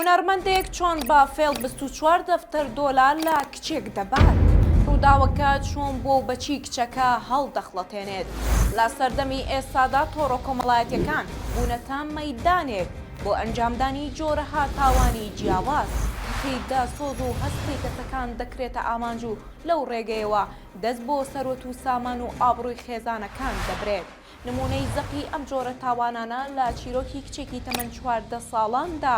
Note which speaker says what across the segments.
Speaker 1: هونەرمەندێک چۆن بە فێڵ بیست و چوار دەفتەر دۆلار لە کچێک دەبات؟ ڕووداوەکە چۆن بۆ و بە چی کچەکە هەڵدەخڵەتێنێت؟ لە سەردەمی ئێستادا تۆڕە کۆمەڵایەتییەکان بوونەتە مەیدانێک بۆ ئەنجامدانی جۆرەها تاوانی جیاواز، کەچی دەسۆز و هەستی کەسەکان دەکرێتە ئامانج و لەو ڕێگەیەوە دەست بۆ سەروەت و سامان و ئابڕووی خێزانەکان دەبرێت. نموونەی زەقی ئەم جۆرە تاوانانە لە چیرۆکی کچێکی تەمەن چواردە ساڵاندا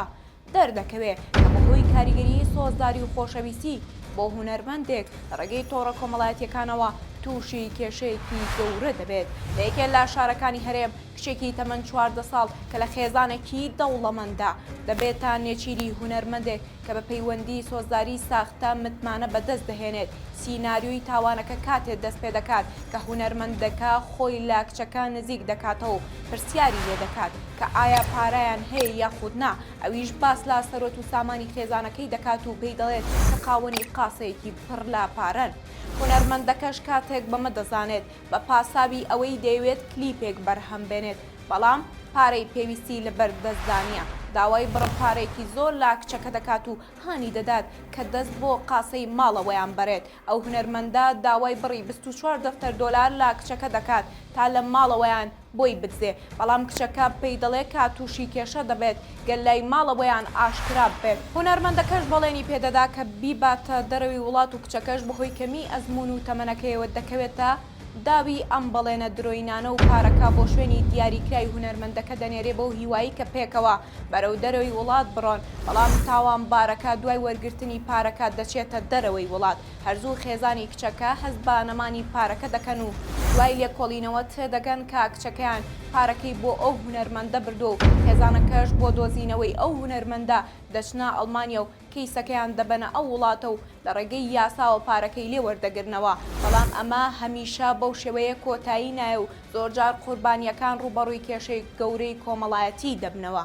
Speaker 1: دەردەکەوێ کە بەهۆی کاریگەریی سۆزداری و خۆشەویستی بۆ هونەرمەندێک لە ڕێگەی تۆڕە کۆمەڵایەتییەکانەوە تووشی کێشەیەکی گەورە دەبێت. لە یەکێ لە شارەکانی هەرێم کچێکی تەمەن چواردە ساڵ کە لە خێزانێکی دەوڵەمەندە دەبێتە نێچیری هونەرمەندێک کە بە پەیوەندی سۆزداری ساختە متمانە بەدەست دەهێنێت، سیناریۆی تاوانەکە کاتێ دەست پێ دەکات کە هونەرمەندەکە خۆی لە کچەکە نزیک دەکاتەوە و پرسیاری لێ دەکات کە ئایا پارەیان هەیە یاخود نا، ئەویش باس لە سەروەت و سامانی خێزانەکەی دەکات و پێی دەڵێت کە خاوەنی قاسەیەکی پڕ لە پارەن. هونەرمەندەکەش کاتێک بەمە دەزانێت بە پاساوی ئەوەی دەیەوێت کلیپێک بەرهەم بێنێت بەڵام پارەی پێویستی لە بەر دەست دانیە داوای بڕە پارەیەکی زۆر لا کچەکە دەکات و هانی دەدات کە دەست بۆ قاسەی ماڵەوەیان بەرێت ئەو هونەرمەندە داوای بڕی بیست و چوار دەفتەر دۆلار لا کچەکە دەکات تا لە ماڵەوەیان بۆی بدزێ بەڵام کچەکە پێی دەڵێ کە تووشی کێشە دەبێت گەر لای ماڵەوەیان ئاشکرا ببێت هونەرمەندەکەش بەڵێنی پێدەدا کە بیباتە دەرەوی وڵات و کچەکەش بەهۆی کەمیی ئەزموون و تەمەنەکەیەوە دەکەوێتە داوی ئەم بەڵێنە درۆینانە و پارەکە بۆ شوێنی دیاریکراوی هونەرمەندەکە دەنێرێ بەو هیوایی کە پێکەوە بەرەو دەرەوەی وڵات بڕۆن بەڵام تاوانبارەکە دوای وەرگرتنی پارەکە دەچێتە دەرەوەی وڵات هەرزوو خێزانی کچەکە هەست بە نەمانی پارەکە دەکەن و دوای لێکۆڵینەوە تێدەگەن کە کچەکەیان پارەکەی بۆ ئەو هونەرمەندە بردووە و خێزانەکەش بۆ دۆزینەوەی ئەو هونەرمەندە دەچنە ئەڵمانیا و کەیسەکەیان دەبەنە ئەو وڵاتە و لە ڕێگەی یاساوە پارەکەی لێ وەردەگرنەوە، بەڵام ئەمە هەمیشە بەو شێوەیە کۆتایی نایە و زۆرجار قوربانییەکان ڕووبەڕووی کێشەی گەورەی کۆمەڵایەتی دەبنەوە.